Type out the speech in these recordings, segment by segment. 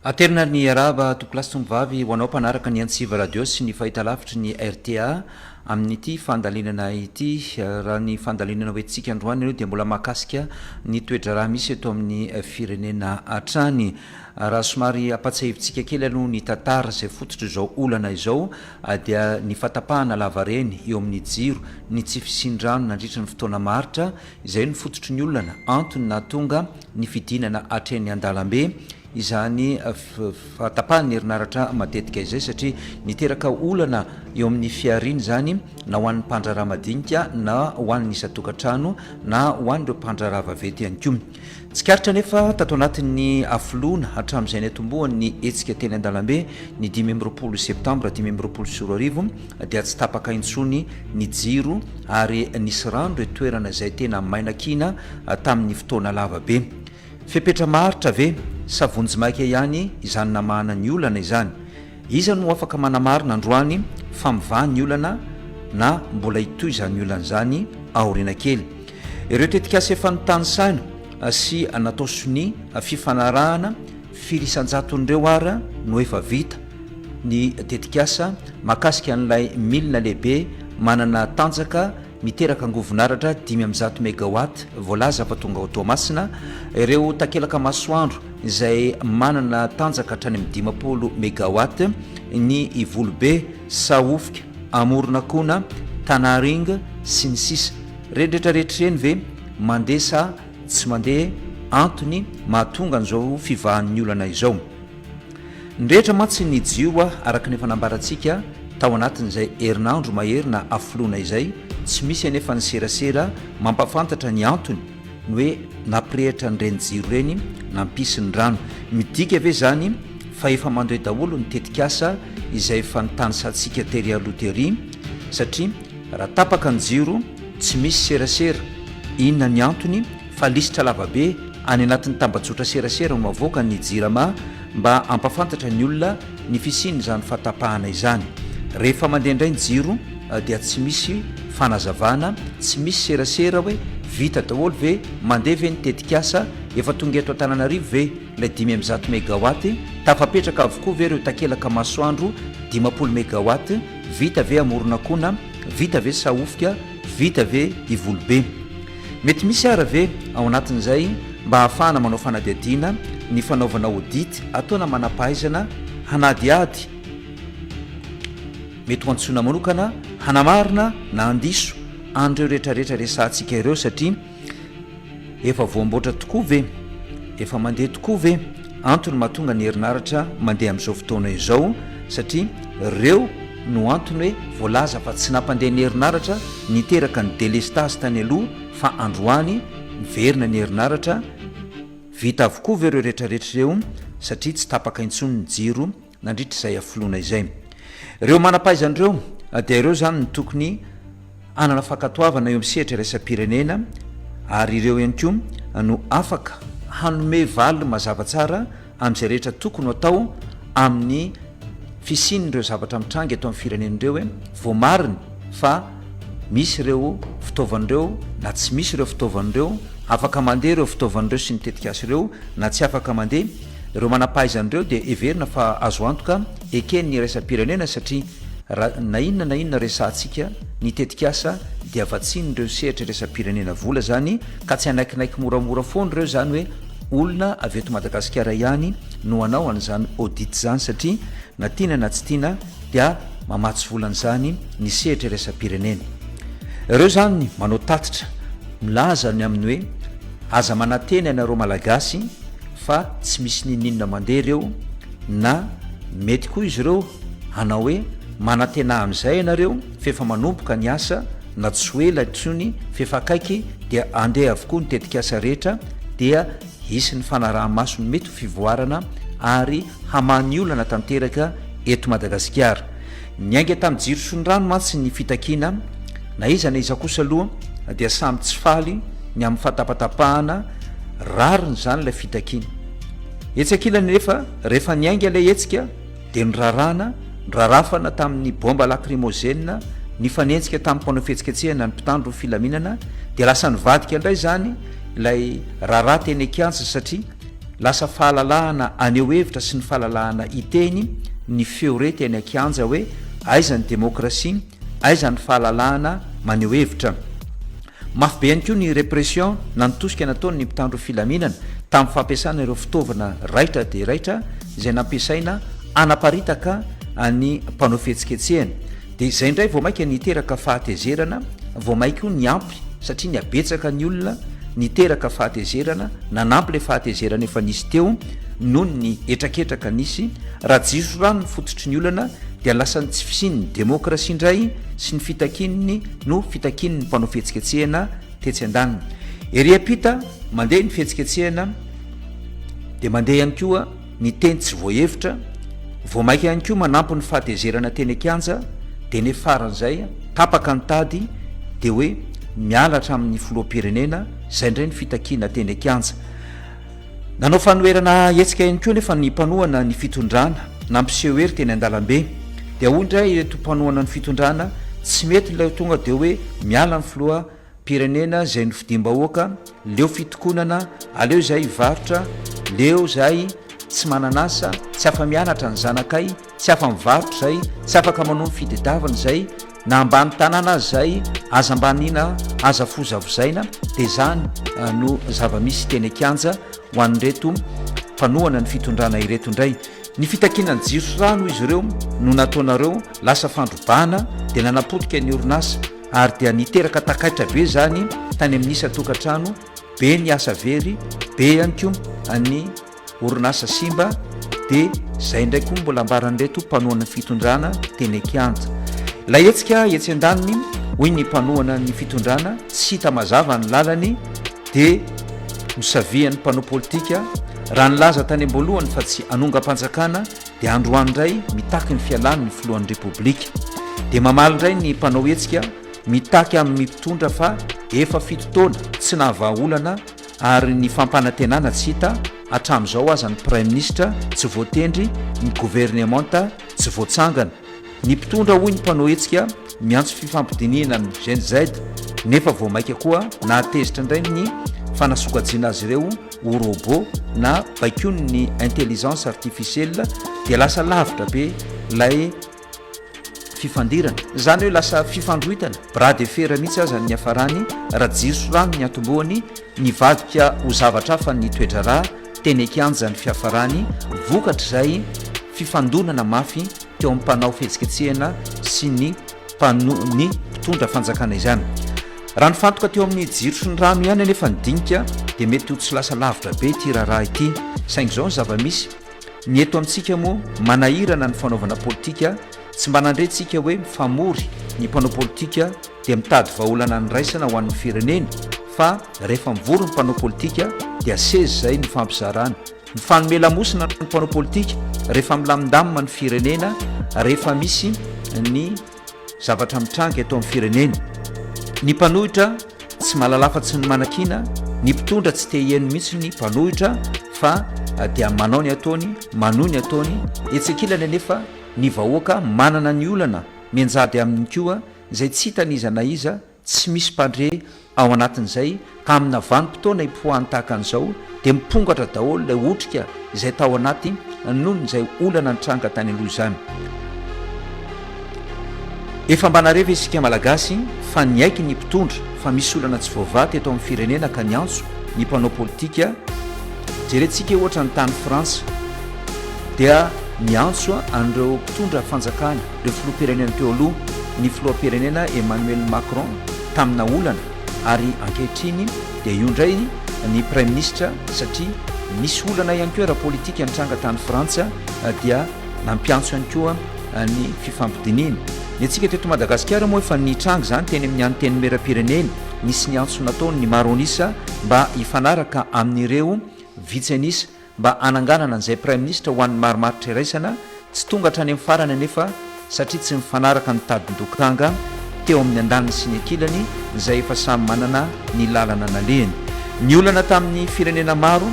Aterina ary ny hiarahaba Tompolahy sy Tompivavy ho anao mpanaraka ny Antsiva Radio sy ny fahitalavitry ny rta amin'ity fandalinana ity. Raha ny fandalinana hoentintsika androany aloha dia mbola mahakasika ny toe-draharaha misy eto amin'ny firenena hatrany. Raha somary hampatsiahivintsika kely aloha ny tantara izay fototr'izao olana izao dia ny fahatapahana lavareny eo amin'ny jiro, ny tsy fisian-drano nandritra ny fotoana maharitra Izay no fototry ny olana, antony nahatonga ny fidinana hatreny an-dalambe izany fahatapahan'ny herinaratra matetika izay satria niteraka olana eo amin'ny fihariana izany na ho an'ny mpandraharaha madinika na ho an'ny isan-tokantrano na ho an'ireo mpandraharaha vaventy ihany koa. Tsikaritra anefa tato anatin'ny afoloana hatramin'izay niatombohan'ny hetsika teny an-dalambe ny dimy amby roapolo septambra dimy amby roapolo sy roa arivo dia tsy tapaka intsony ny jiro ary nisy rano ireo toerana izay tena maina kiana tamin'ny fotoana lava be. Fepetra maharitra ve sa vonjimaika ihany izany namahana ny olana izany? Iza no afaka manamarina androany fa mivaha ny olana na mbola hitohy izany olana izany aoriana kely? Ireo tetikasa efa notanisaina sy natao sonia fifanarahana firy isan-jaton'ireo ary no efa vita? Ny tetikasa mahakasika an'ilay milina lehibe manana tanjaka Miteraka angovon'aratra dimy amby zato megawatt voalaza fa tonga ao Toamasina ireo takelaka masoandro izay manana tanjaka hatrany amin'ny dimampolo megawatt ny Ivolobe, Sahofika, Amoronakona, Tanaring sy ny sisa Ireny rehetra rehetra ireny ve mandeha sa tsy mandeha? Antony mahatonga an'izao fivahan'ny olana izao. Ny rehetra mantsy nijioa araka ny efa nambarantsika tao anatin'izay herinandro mahery nahafoloana izay, tsy misy anefa ny serasera mampahafantatra ny antony ny hoe nampirehitra an'ireny jiro ireny nampisy ny rano. Midika ve izany fa efa mandoe daholo ny tetikasa izay efa nitanisantsika tery aloha tery satria raha tapaka ny jiro tsy misy serasera inona ny antony? fa lisitra lavabe any anatin'ny tambajotra serasera no avoakan'ny Jirama mba hampafantatra ny olona ny fisian'izany fahatapahana izany. Rehefa mandeha indray ny jiro dia tsy misy fanazavana, tsy misy serasera hoe vita daholo ve, mandeha ve ny tetikasa, efa tonga eto Antananarivo ve ilay dimy amby zato megawatt, tafapetraka avokoa ve ireo takelaka masoandro dimampolo megawatt, vita ve Amoronakona, vita ve Sahofika, Vita ve i Volobe? Mety misy ara ve ao anatin'izay mba ahafahana manao fanadihadiana ny fanaovana audit ataona manampahaizana hanadihady? Mety ho antsoina manokana hanamarina na handiso an'ireo rehetrarehetra resahantsika ireo satria Efa voamboatra tokoa ve? Efa mandeha tokoa ve? Antony mahatonga ny herinaratra mandeha amin'izao fotoana izao satria reo no antony hoe voalaza fa tsy nampandeha ny herinaratra niteraka ny delestazy tany aloha fa androany miverina ny herinaratra vita avokoa ve reo retraretra reo satria tsy tapaka intsony ny jiro nandritra izay hafoloana izay. Ireo manam-pahaizana ireo dia ireo izany no tokony hanana fankatoavana eo amin'ny sehatra iraisam-pirenena ary ireo ihany koa no afaka hanome valiny mazava tsara amin'izay rehetra tokony ho atao amin'ny fisian'ireo zavatra mitranga eto amin'ny firenena ireo voamariny fa Misy ireo fitaovana ireo na tsy misy ireo fitaovana ireo, afaka mandeha ireo fitaovana ireo sy ny tetikasa ireo na tsy afaka mandeha, ireo manam-pahaizana ireo dia heverina fa azo antoka eken'ny iraisam-pirenena satria raha na inona na inona resahantsika ny tetikasa dia vatsian'ireo sehatra iraisam-pirenena vola izany ka tsy hanaikinaiky moramora foana ireo izany hoe olona avy eto Madagasikara ihany no hanao an'izany audit izany satria na tiana na tsy tiana dia mamatsy vola an'izany ny sehatra iraisam-pirenena. Ireo izany manao tatitra milaza ny amin'ny hoe aza manantena ianareo Malagasy fa tsy misy n'inon'inona mandeha ireo na mety koa izy ireo hanao hoe manantena amin'izay ianareo f'efa manomboka ny asa na tsy ho ela intsony f'efa akaiky dia andeha avokoa ny tetikasa rehetra dia Hisy ny fanaraha-maso mety ho fivoarana ary hamaha ny olana tanteraka eto Madagasikara. Niainga tamin'ny jiro sy ny rano mantsy ny fitakiana, na iza na iza kosa aloha dia samy tsy faly ny amin'ny fahatapatapahana rariny izany ilay fitakiana. Etsy ankilany anefa, rehefa niainga ilay hetsika, dia niraràna, nirarafana tamin'ny baomba lakrimôzena, nifanenjika tamin'ny mpanao fihetsiketsehana ny mpitandro filaminana, dia lasa nivadika indray izany ilay raharaha teny an-kianja satria lasa fahalalahana haneho hevitra sy ny fahalalahana hiteny ny feo re teny an-kianja hoe aiza ny demokrasia, aiza ny fahalalahana maneho hevitra. Mafy be ihany koa ny répression na ny tosika nataon'ny mpitandro filaminana tamin'ny fampiasana ireo fitaovana raitra dia raitra izay nampiasaina hanaparitaka ny mpanao fihetsiketsehana. Dia izay indray vao mainka niteraka fahatezerana vao may koa niampy satria nihabetsaka ny olona niteraka fahatezerana nanampy ilay fahatezerana efa nisy teo noho ny hetraketraka nisy. Raha jiroso rano ny fototry ny olana dia lasa ny tsy fisian'ny démocratie indray sy ny fitakian'ny no fitakian'ny mpanao fihetsiketsehana tetsy an-daniny. Ery am-pita, mandeha ny fihetsiketsehana, dia mandeha ihany koa ny teny tsy voahevitra, vao maika ihany koa manampy ny fahatezerana teny an-kianja, dia ny faran'izay, tapaka ny tady, dia hoe miala hatramin'ny filoham-pirenena, izay indray ny fitakiana teny an-kianja. Nanao fanoherana hetsika ihany koa anefa ny mpanohana ny fitondrana, nampiseho hery teny an-dalambe. Dia hoy indray ireto mpanohana ny fitondrana, tsy mety ilay ho tonga dia hoe miala ny filoham-pirenena izay nofidiam-bahoaka, leo fitokonana, aleo izahay hivarotra, leo izahay tsy manana asa, tsy afa-mianatra ny zanakay, Tsy afa mivarotra izay, tsy afaka manao ny fitedavana izay, na ambany tanana aza izay, aza ambaniana, aza fozavozaina, dia izany no zava-misy teny an-kianja ho an'ireto mpanohana ny fitondrana ireto indray. Ny fitakiana ny jiro sy rano hoy izy ireo no nataonareo lasa fandrobana dia nanapotika ny orinasa ary dia niteraka takaitra be izany tany amin'ny isa-tokantrano, be ny asa very, be ihany koa ny orinasa simba dia izay indray koa mbola ambaran'ireto mpanohana fitondrana teny kianja. Ilay hetsika etsy an-daniny hoy ny mpanohana ny fitondrana tsy hita mazava ny lalany dia nosavihan'ny mpanao politika raha nilaza tany am-boalohany fa tsy anongam-panjakana dia androany indray mitaky ny fialany ny filohan'ny repoblika dia mamaly indray ny mpanao hetsika mitaky amin'ny mpitondra fa efa fito taona tsy nahavaha olana Ary ny fampanantenana tsy hita hatramin'izao aza ny praiminisitra tsy voatendry, ny governemanta tsy voatsangana. Ny mpitondra hoy ny mpanao hetsika miantso fifampidinihina amin'ny Gen Z nefa vao maika koa nahatezitra indray ny fanasokajiana azy ireo ho robot na baikoin'ny intelligence artificielle dia lasa lavitra be ilay fifandirana, izany hoe lasa fifandroitana, bras de fer mihitsy aza ny niafarany, raha jiro sy rano ny atombohany, nivadika ho zavatra hafa ny toe-draharaha, teny an-kianja ny fiafarany, vokatr'izay fifandonana mafy teo amin'ny mpanao fihetsiketsehana sy ny mpano ny mpitondra fanjakana izany. Raha nifantoka teo amin'ny jiro sy ny rano ihany anefa ny dinika dia mety ho tsy lasa lavitra be ity raharaha ity, saingy izao ny zava-misy, Ny eto amintsika moa manahirana ny fanaovana politika, tsy mba nandre tsika hoe mifamory ny mpanao politika dia mitady vahaolana andraisana ho an'ny fireneny fa rehefa mivory ny mpanao politika dia seza izay nifampizarana. Mifanome lamosina ny mpanao politika rehefa milamindamina ny firenena rehefa misy ny Zavatra mitranga eto amin'ny firenena. Ny mpanohitra tsy mahalala afa-tsy ny manakiana, ny mpitondra tsy te hiheno mihitsy ny mpanohitra fa dia manao ny ataony, manohy ny ataony, etsy ankilany anefa ny vahoaka manana ny olana mianjady aminy koa izay tsy hitan'iza na iza Tsy misy mpandre ao anatin'izay ka amina vanim-potoana hipoahany tahaka an'izao dia mipongatra daholo ilay otrika izay tao anaty noho izay olana nitranga tany aloha izany. Efa mba nare ve isika Malagasy fa niaiky ny mpitondra fa misy olana tsy voavaha teto amin'ny firenena ka niantso ny mpanao politika? Jerentsika ohatra ny tany Frantsa dia niantso an'ireo mpitondra fanjakana ireo filoham-pirenena teo aloha, ny filoham-pirenena Emmanuel Macron tamina olana ary ankehitriny dia io indray ny praiminisitra satria nisy olana ihany koa ara-politika nitranga tany Frantsa dia nampiantso ihany koa ny fifampidinihina. Ny antsika teto Madagasikara moa efa nitranga izany teny amin'ny Antenimierampirenena, nisy ny antso nataon'ny maro an'isa mba hifanaraka amin'ireo vitsy an'isa. mba hananganana an'izay Praiminisitra ho an'ny marimaritra iraisana, tsy tonga hatrany amin'ny farany anefa satria tsy mifanaraka ny tadin-dokanga teo amin'ny andaniny sy ny ankilany izay efa samy manana ny lalana nalehiny. Niolana tamin'ny firenena maro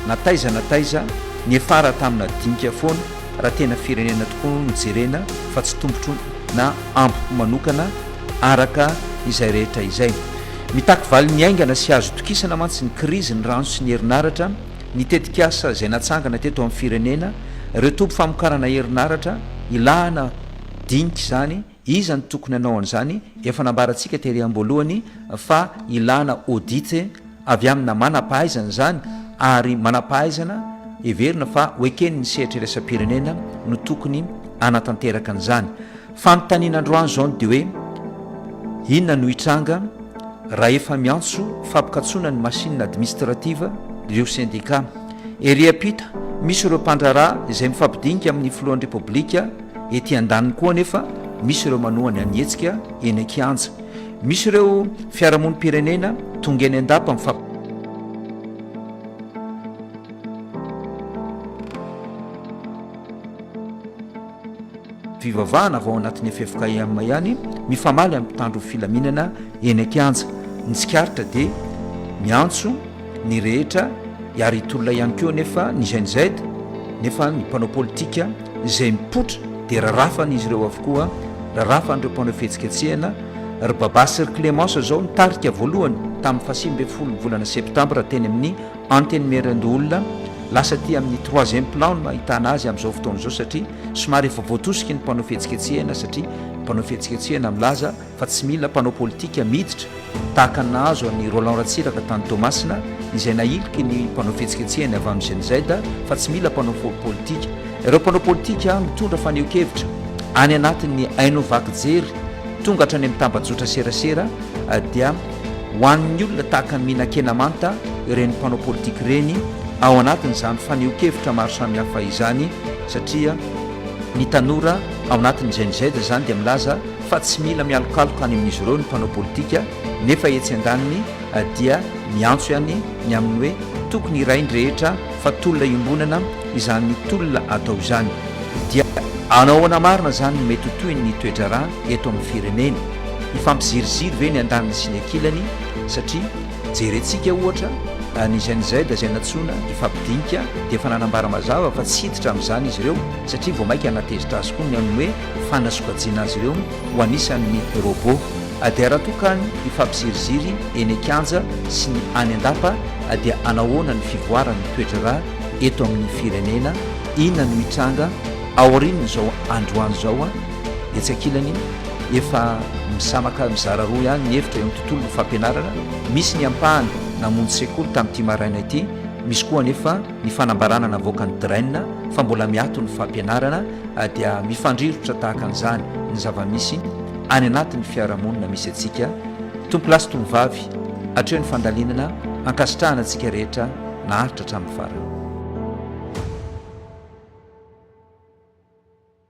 na taiza na taiza, niafara tamina dinika foana raha tena firenena tokoa no jerena fa tsy tompotro na ampopo manokana araka izay rehetra izay. Mitaky valiny haingana sy azo itokisana mantsy ny krizy ny rano sy ny herinaratra, ny tetikasa izay natsangana teto amin'ny firenena, ireo toby famokarana herinaratra, ilàna dinika izany, iza no tokony hanao an'izany, efa nambarantsika tery am-boalohany fa ilàna audit avy amina manam-pahaizana izany ary manam-pahaizana heverina fa ho eken'ny sehatry iraisam-pirenena no tokony hanatanteraka an'izany. Fanontaniana androany izao no dia hoe, inona no hitranga raha efa miantso fampikatsoana ny machine administrative ireo sendika? Ery ampita, misy ireo mpandraharaha izay mifampidinika amin'ny filohan'ny Repoblika, ety andaniny koa anefa misy ireo manoha ny anihetsika eny an-kianja. Misy ireo fiarahamonim-pirenena tonga eny an-dapa mifampi. Fivavahana avy ao anatin'ny ffkm ihany mifamaly amin'ny mpitandro ny filaminana eny an-kianja. Ny tsikaritra dia miantso ny rehetra hiaro hitolona ihany koa anefa ny Gen Z nefa ny mpanao politika izay mipoitra dia rarafan'izy ireo avokoa, rarafan'ireo mpanao fihetsiketsehana. Ry Babasy sy ry Clémence izao nitarika voalohany tamin'ny fahasivy ambin'ny folo ny volana septambra teny amin'ny. Antenimierandoholona, lasa aty amin'ny troisième plan no ahitana azy amin'izao fotoana izao satria somary efa voatosiky ny mpanao fihetsiketsehana satria mpanao fihetsiketsehana milaza fa tsy mila mpanao politika miditra tahaka ny nahazo an'i Roland Ratsiraka tany Toamasina izay nahiliky ny mpanao fihetsiketsehany avy amin'ny GNZ fa tsy mila mpanao politika ireo mpanao politika mitondra fanehoan-kevitra any anatin'ny haino vaky jery tonga hatrany amin'ny tambajotra serasera dia Ho an'ny olona tahaka an'i Minakena Manta ireny mpanao politika ireny ao anatin'izany fanehoan-kevitra maro samihafa izany satria ny tanora ao anatin'ny Gen Z izany dia milaza fa tsy mila mialokaloka any amin'izy ireo ny mpanao politika nefa etsy andaniny dia miantso ihany ny amin'ny hoe tokony iray ny rehetra fa tolona iombonana izany tolona atao izany dia Hanao ahoana marina izany no mety ho tohin'ny toe-draharaha eto amin'ny firenena? Hifampiziriziry ve ny andaniny sy ny ankilany satria jerentsika ohatra ny Gen Z izay nantsoina hifampidinika dia efa nanambara mazava fa tsy hiditra amin'izany izy ireo satria vao maika hanatezitra azy koa ny amin'ny hoe fanasokajiana azy ireo ho anisan'ny robot dia raha toa ka ny hifampiziriziry eny an-kianja sy ny any an-dapa dia hanahoana ny fivoaran'ny toetr'ra eto amin'ny firenena? Inona no hitranga aorian'izao androany izao? Etsy ankilany, efa misamaka mizara roa ihany ny hevitra eo amin'ny tontolon'ny fampianarana, misy ny ampahany namonjy sekoly tamin'ity maraina ity, misy koa anefa ny fanambarana navoakan'ny Dren fa mbola miato ny fampianarana dia mifandrirotra tahaka an'izany ny zava-misy any anatin'ny fiarahamonina misy antsika tompo-lahy sy tovovavy hatreo ny fandalinana ankasitrahana antsika rehetra naharitra hatramin'ny farany.